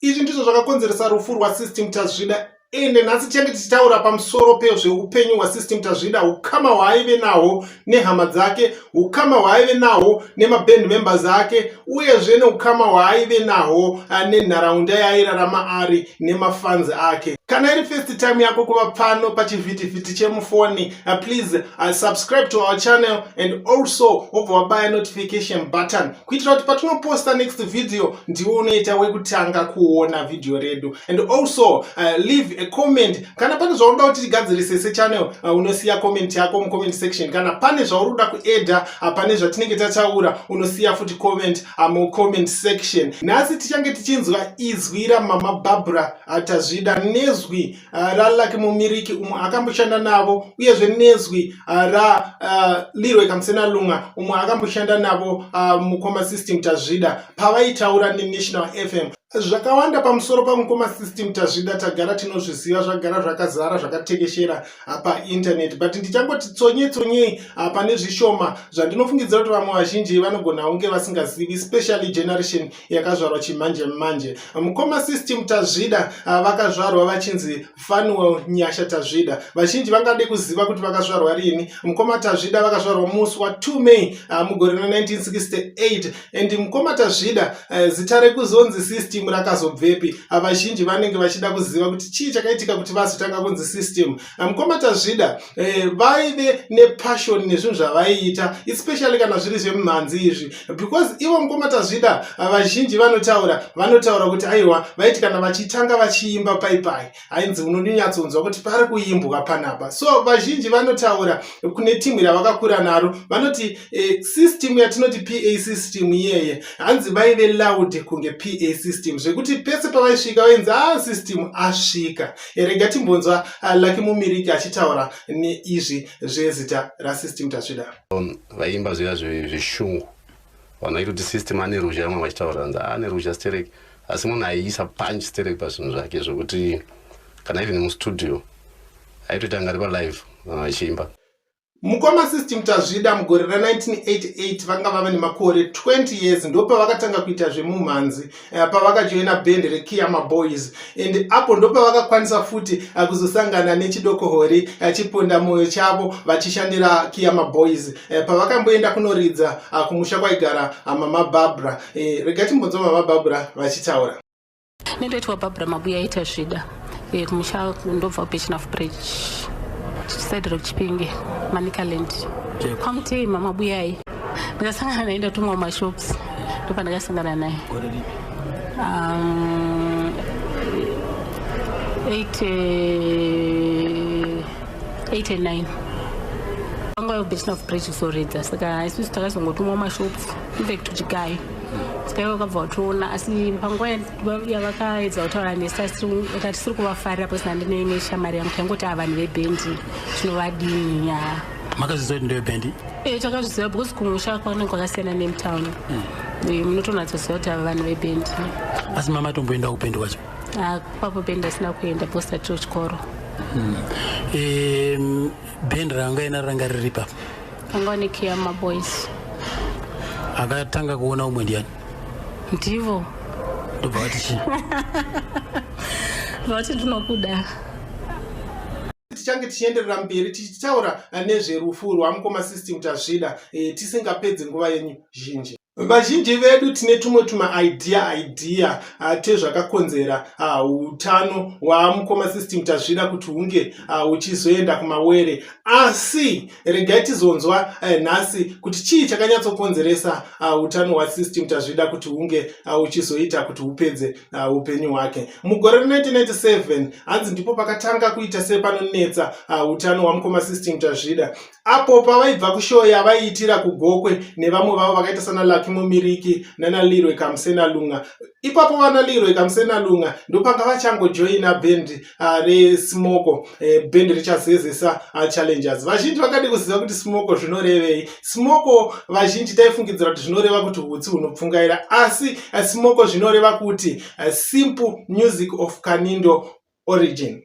izvi ndizvo zvakakonzeresa rufu rwasystem tazvida ende nhasi tichange tichitaura pamusoro pezveupenyu hwasystem tazvida ukama hwaaive nahwo nehama dzake ukama hwaaive nahwo nemaband members ake uyezve neukama hwaaive nahwo ah, nenharaunda yaairarama ari nemafanzi ake kana iri first time yako kuva pano pachivhitivhiti chemufoni ah, please ah, subscribe to our channel and also wobva wabaya notification button kuitira kuti patinoposta next video ndiwo unoita wekutanga kuona video redu and also uh, leave a comment kana pane zvaunoda kuti tigadzirise sechannel uh, unosiya comment yako mucomment section kana pane zvauri kuda kuedha uh, pane zvatinenge tataura unosiya futi comment uh, mucomment section nhasi tichange tichinzwa izwi ramama barbara uh, tazvida nezwi uh, ralucky mumiriki umwe akamboshanda navo uyezve nezwi uh, ra uh, lirwe kamusena lunga umwe akamboshanda navo uh, mukoma system tazvida pavaitaura nenational fm zvakawanda pamusoro pamukoma system tazvida tagara tinozviziva zvagara zvakazara zvakatekeshera ah, painternet but ndichangoti tsonye tsonyei ah, pane zvishoma zvandinofungidzira kuti vamwe vazhinji vanogona kunge vasingazivi specially generation yakazvarwa chimanje manje mukoma system tazvida ah, vakazvarwa vachinzi fanuel nyasha tazvida vazhinji vangade kuziva kuti vakazvarwa rini mukoma tazvida vakazvarwa musi wa 2 may ah, mugore ra 1968 and mukoma tazvida ah, zita rekuzonzi system rakazobvepi vazhinji vanenge vachida kuziva kuti chii chakaitika kuti vazotanga kunzi system mukoma tazvida eh, vaive nepassion nezvinhu zvavaiita especially kana zviri zvemumhanzi izvi because ivo mukoma tazvida ah, vazhinji vanotaura vanotaura kuti aiwa vaiti kana vachitanga vachiimba paipai ainzi unonyatsonzwa kuti pari kuimbwa panapa so vazhinji vanotaura kune timu ravakakura naro vanoti eh, system yatinoti pa system iyeye hanzi vaive loud kunge pa system zvekuti pese pavaisvika vainzi a ah, system asvika rega timbonzwa uh, lucky mumiriki achitaura neizvi zvezita rasystem tasvida vaimba zviya zveshungu vanhu vaitoti system ane ruzha vamwe vachitaura anzi ah, ane ruzha sterek asi munhu aiisa punch sterek pazvinhu zvake zvokuti kana even mustudio aitoita ngari palive vanhu vachiimba Mukoma System Tazvida mugore ra 1988 vanga vava nemakore 20 years ndopavakatanga kuita zvemumhanzi eh, pavakajoina band reKiyama Boys and apo ndopavakakwanisa futi eh, kuzosangana nechidoko hori eh, chiponda moyo chavo vachishandira Kiyama Boys pavakamboenda kunoridza kumusha kwaigara Mama Barbara. Rega timbonzwa Mama Barbara vachitaura. Ndoitwa Barbara Mabuya ita zvida eh, kumusha ndobva kuBechina Footbridge side road Chipinge Manicaland kwaMutei mama Buyai ndakasangana naye ndatumwa mumashops ndopandakasangana naye um, 89 vanga vabechina footbridge kuzoredza saka isusu takazongotumwa mumashops back to chigayo chigayo vakabva vatoona asi panguva yavakaedza kutaura nesu aka tisiri kuvafarira pose nandine ne shamari yangu taingoti a vanhu vebhendi tinovadini ya makazviziva kuti ndevebhendi e eh, takazviziva because kumusha kwanenge kwakasiyana nemtown hmm. eh, munotonatsoziva kuti ava vanhu vebhendi asi mamatomboenda kupendi kwacho ah, kwapo bendi asina kuenda bcause tatiro chikoro hmm. eh, bendi ranga ina ranga riri papa Angone kia ma boys. Akatanga kuona umwe ndiani? Ndivo. Ndobva vati chi? Vati tinokuda. tichange tichienderera mberi tichitaura nezverufu rwamukoma system tazvida eh, tisingapedzi nguva yenyu zhinji Vazhinji vedu tine tumwe tumaidea idea ah, tezvakakonzera ah, utano hwamukoma system tazvida kuti hunge ah, uchizoenda kumawere asi regai tizonzwa eh, nhasi kuti chii chakanyatsokonzeresa utano hwasystem tazvida kuti hunge uchizoita kuti upedze upenyu hwake mugore re1997 hanzi ndipo pakatanga kuita sepanonetsa utano hwamukoma system tazvida apo pavaibva kushow yavaiitira kugokwe nevamwe vavo vakaita sana lucky mumiriki nanalirwe kamusena lunga ipapo vanalirwe kamusena lunga ndopanga vachangojoina band uh, resmoko eh, band richazezesa uh, challengers vazhinji vakadi kuziva kuti smoko zvinorevei smoko vazhinji taifungidzira kuti zvinoreva kuti hutsi hunopfungaira asi uh, smoko zvinoreva kuti uh, simple music of kanindo origin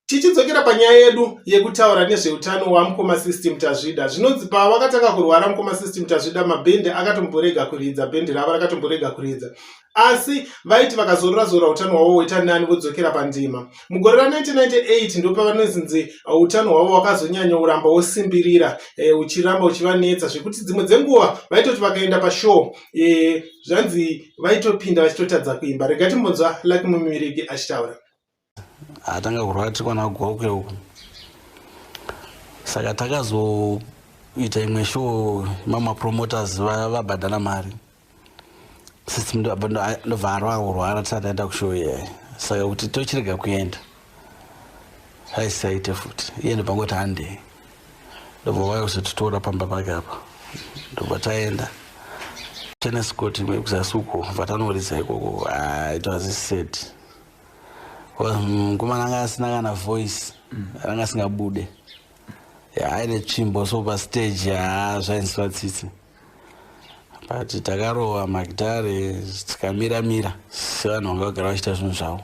Tichidzokera panyaya yedu yekutaura nezveutano wamukoma System Tazvida, zvinonzi pavakatanga kurwara mukoma System Tazvida mabhende akatomborega kuridza, bhende ravo rakatomborega kuridza asi vaiti vakazorora zorora utano hwavo hwoita nani vodzokera pandima. Mugore ra1998 ndopavanozinzi uh, utano hwavo wakazonyanya kuramba wosimbirira eh, uchiramba uchivanetsa zvekuti dzimwe dzenguva vaitoti vakaenda pashow eh, zvanzi vaitopinda vachitotadza kuimba. Rega timbonzva Lucky Mumirigi achitaura. atanga kurwara tiri kwana gokwe uku saka takazoita imwe show mama promoters vabhadhara mari sisi ndobva arwaa kurwara tisati aenda kushow iyayi saka kuti tochirega kuenda aisisaite futi iye ndopangoti handei ndobva vaya kuzotitora pamba pake apa ndobva taenda teneskoti imwe kuzasi uko bvatanoridza ikoko aitwazisiseti ah, mukomana anga asina kana voice ranga asingabude aine tsvimbo so pastage haa zvainzwa tsitsi but takarova magitare tikamira mira sevanhu vanga vagara vachiita zvinhu zvavo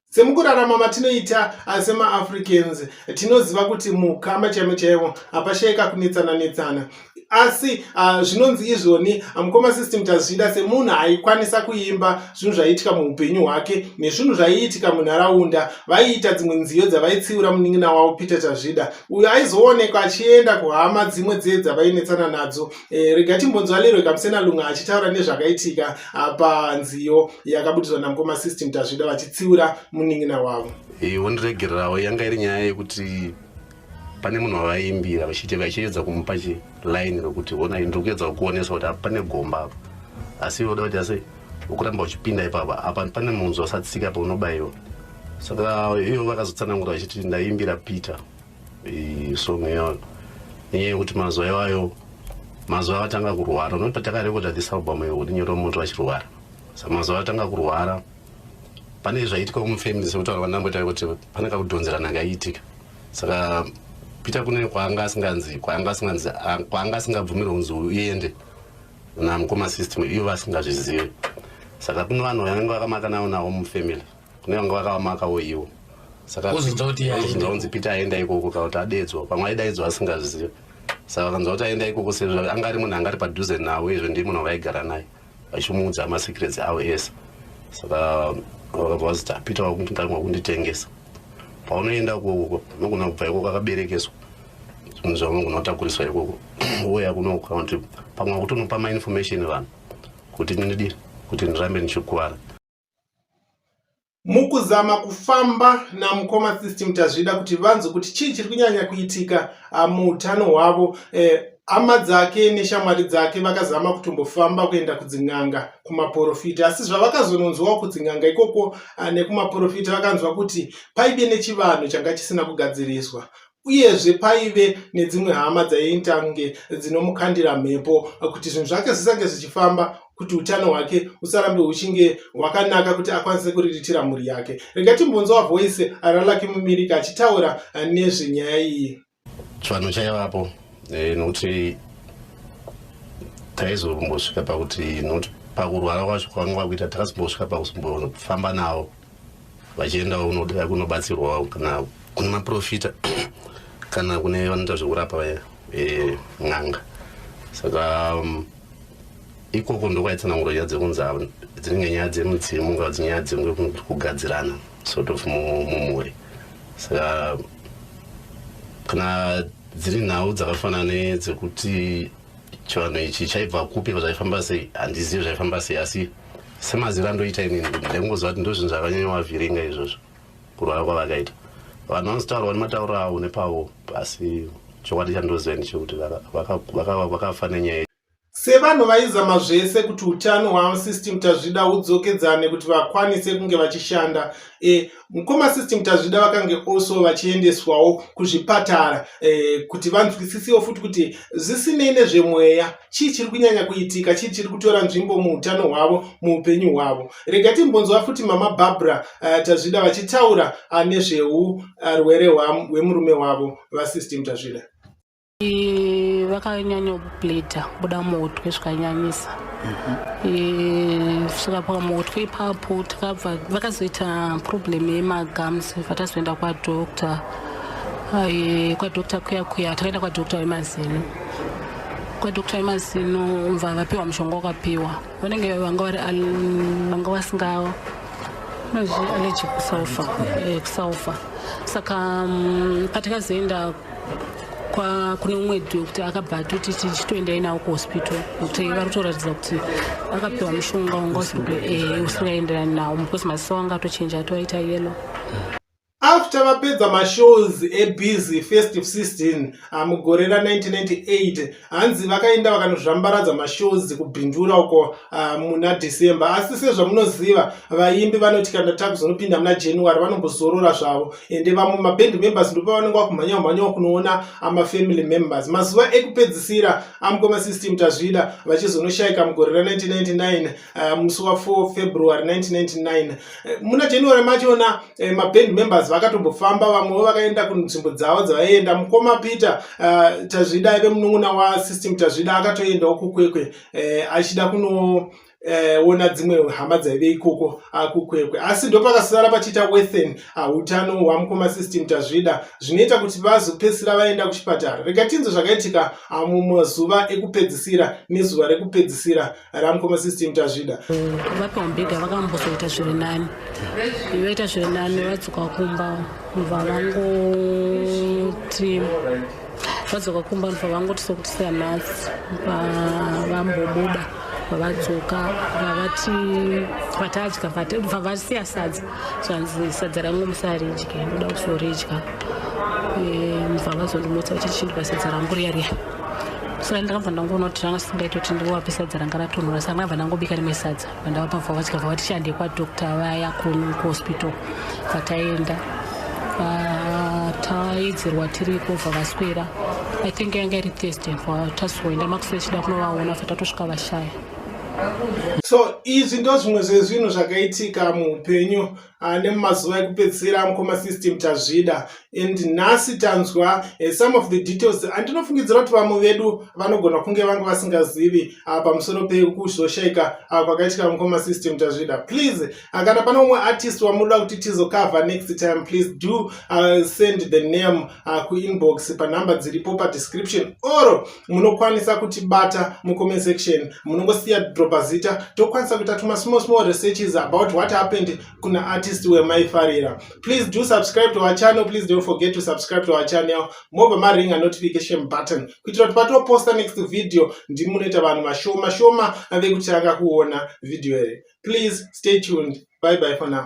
semukurarama matinoita asi maafricans tinoziva kuti mukama chaimo chaivo hapashaika kunetsana netsana asi uh, zvinonzi izvoni ah, mukoma system tazvida semunhu aikwanisa kuimba zvinhu zvaiitika muupenyu hwake nezvinhu zvaiitika munharaunda vaiita dzimwe nziyo dzavaitsiura munin'ina wavo peter tazvida uyo aizoonekwa achienda kuhama dzimwe dzee dzavainetsana nadzo e, rega timbonzwa lerwe kamusena lunga achitaura nezvakaitika uh, panziyo yakabudirwa namukoma system tazvida vachitsiura munin'ina wavo hey, eh, wondiregererawo yanga iri nyaya yekuti pane munhu wavaimbira vachiti vachiedza kumupa chiline rokuti honai ndiri kuedza kukuonesa kuti pane gomba apa asi voda kuti asi ukuramba uchipinda ipapa apa pane munzwa satsika paunobaiwa saka iyo vakazotsanangura vachiti ndaimbira peter song yayo nenyaya yekuti mazuva iwayo mazuva avatanga kurwara unoti patakarekota this album iyo kuti nyoro moto vachirwara saka mazuva avatanga kurwara pane zvaiitika kumufamily sekutaura vanamboita kuti pane kakudhonzerana kaiitika saka peter kune kwaanga asinganzi kwaanga asinganzi kwaanga asingabvumiri kunzi uende namukoma system iyo vasingazvizivi saka kune vanhu vanenge vakamaka navo navo mufamily kune vanga vakavamakawo ivo sakaunzi peter aenda ikoko kana kuti adedzwa pamwe aidaidzwa asingazvizivi saka vakanzwa kuti aenda ikoko sezvo anga ari munhu anga ari padhuze navo izvo ndii munhu vaigara naye vachimuudza masecrets avo ese saka vakabva vaziti apita wakundikanwa kunditengesa paunoenda ikoko unogona kubva ikoko akaberekeswa zvinhu zvaunogona kutakuriswa ikoko woya kuno kana kuti pamwe wakutonopa mainformation vanhu kuti ndidii kuti ndirambe ndichikuvara mukuzama kufamba namukoma system tazvida kuti vanzwe kuti chii chiri kunyanya kuitika ah, muutano hwavo eh, hama dzake neshamwari dzake vakazama kutombofamba kuenda kudzin'anga kumaporofita asi zvavakazononzwawo kudzin'anga ikoko ah, nekumaporofita vakanzwa kuti paive nechivanhu changa chisina kugadziriswa uyezve paive nedzimwe hama dzaiita kunge dzinomukandira mhepo kuti zvinhu zvake zvisange zvichifamba kuti utano hwake usarambe huchinge hwakanaka kuti akwanise kuriritira mhuri yake rega timbonzwa voice ralaki mumirika achitaura nezvenyaya iyi chivanhu chaivapo eh, nokuti taizombosvika pakuti nokuti pakurwara kwacho kwanga kwakuita takasimbosvika pakuzombofamba navo vachiendawo unoda kunobatsirwawo kana kune maprofita kana kune vanoita zvekurapa vaya eh, n'anga saka um, ikoko ndokwaitsananguro nyaya dzekunzi dzinenge nyaya dzemudzimu ka dzinyaya dzenge kugadzirana sort of mumhuri saka kana dziri nhau dzakafanana nedzekuti chivanhu ichi chaibva kupi zvaifamba sei handizivi zvaifamba sei asi semazira ndoita inini kuti ndaingoziva kuti ndozvinhu zvakanyanyoavhiringa izvozvo kurwara kwavakaita vanhu vanozotaurwa nematauro avo nepavo asi chokwadi chandoziva ndichekuti vakafa nenyaya sevanhu vaizama zvese kuti utano hwavo system tazvida hudzokedzane kuti vakwanise kunge vachishanda e mukoma sisti mutazvida vakange also vachiendeswawo kuzvipatara eh, kuti vanzwisisiwo futi kuti zvisinei nezvemweya chii chiri kunyanya kuitika chii chiri kutora nzvimbo muutano hwavo muupenyu hwavo rega timbonzwa futi mama barbara eh, tazvida vachitaura ah, nezveurwere ah, hwemurume wavo vasisti mutazvida vakanyanyobleedha kubuda muhutwe zvikanyanyisa kusvika pamuhutwe ipapo takabva vakazoita problem yemagums vatazoenda kwadoctor kwadoctor kuya kuya takaenda kwadoctor wemazino kwadoctor wemazino mva vapiwa mushonga wakapiwa vanenge vanga vari vanga vasinga nozvi allergic kusulfa eh, kusulfa saka mm, patakazoenda kwa kune umwe doctor akabva atoti tichitoendai nawo kuhospital kuti vari kutoratidza kuti akapiwa mushonga wanga eh, usikaenderani nawo because maziso wanga atochinja atoaita yelo after vapedza mashows ebusy festive 16 mugore ra 1998 hanzi vakaenda vakanozvambaradza mashows kubhindura uko uh, muna december asi sezvamunoziva vaimbi vanoti kana takuzonopinda muna january vanombozorora zvavo ende vamwe maband members ndopavanenge vakumhanya kumhanya kunoona amafamily members mazuva ekupedzisira amukoma system tazvida vachizonoshayika mugore ra 1999 uh, musi wa 4 february 1999 Eh, muna january machona eh, maband members vakatombofamba vamwewo vakaenda kunzvimbo dzavo dzavaienda mukoma peter uh, tazvida aive munun'una wasystem tazvida akatoendawo kukwekwe eh, achida kuno Eh, ona dzimwe hama dzaive ikoko akukwekwe ah, asi ndopakasara pachiita wethen ah, utano hwamukoma system tazvida zvinoita kuti vazopedzisira vaenda kuchipatara rega tinzwe zvakaitika ah, mumazuva ekupedzisira nezuva rekupedzisira ramukoma system tazvida vapi wambega vakambozoita zviri nani vaita zviri nani vadzoka kumba mva vangoti vadzoka kumba mva vangoti sokuti seanasi vambobuda vadzoka vavati vatadya bva vasiya sadza zvanzi sadza rangu musaridye ndoda kuzoridya mva vazondimutsa vachiti chindibva sadza rangu riya riya saka ndakabva ndangoona kuti zvanga zvisingaiti kuti ndingovape sadza ranga ratonhora saka ndakabva ndangobika rimwe sadza vandavapa mvava vachikabva vatishande kwadokta vaya kunu kuhospital vataenda taidzirwa tiri kobva vaswera i think yanga iri thursday tazoenda makuswera chida kunovaona fa tatosvika vashaya so izvi ndo zvimwe zvezvinhu zvakaitika muupenyu Ah, nemumazuva ekupedzisira mukoma system tazvida and nhasi tanzwa eh, some of the details andinofungidzira kuti vamwe vedu vanogona kunge vange vasingazivi ah, pamusoro pekuzoshaika ah, kwakaitika mukoma system tazvida please kana pane umwe artist wamunoda kuti tizokava next time please do send the name uh, kuinbox panhamba dziripo padescription or munokwanisa kutibata mucomment section munongosiya dropa zita tokwanisa kuita tuma small small researches about what happened kuna artist wemaifarira please do subscribe to our channel please don't forget to subscribe to our channel mobva maringa notification button kuitira kuti patoposta next video ndimi munoita vanhu vashoma shoma vekutanga kuona video here please stay tuned bye bye for now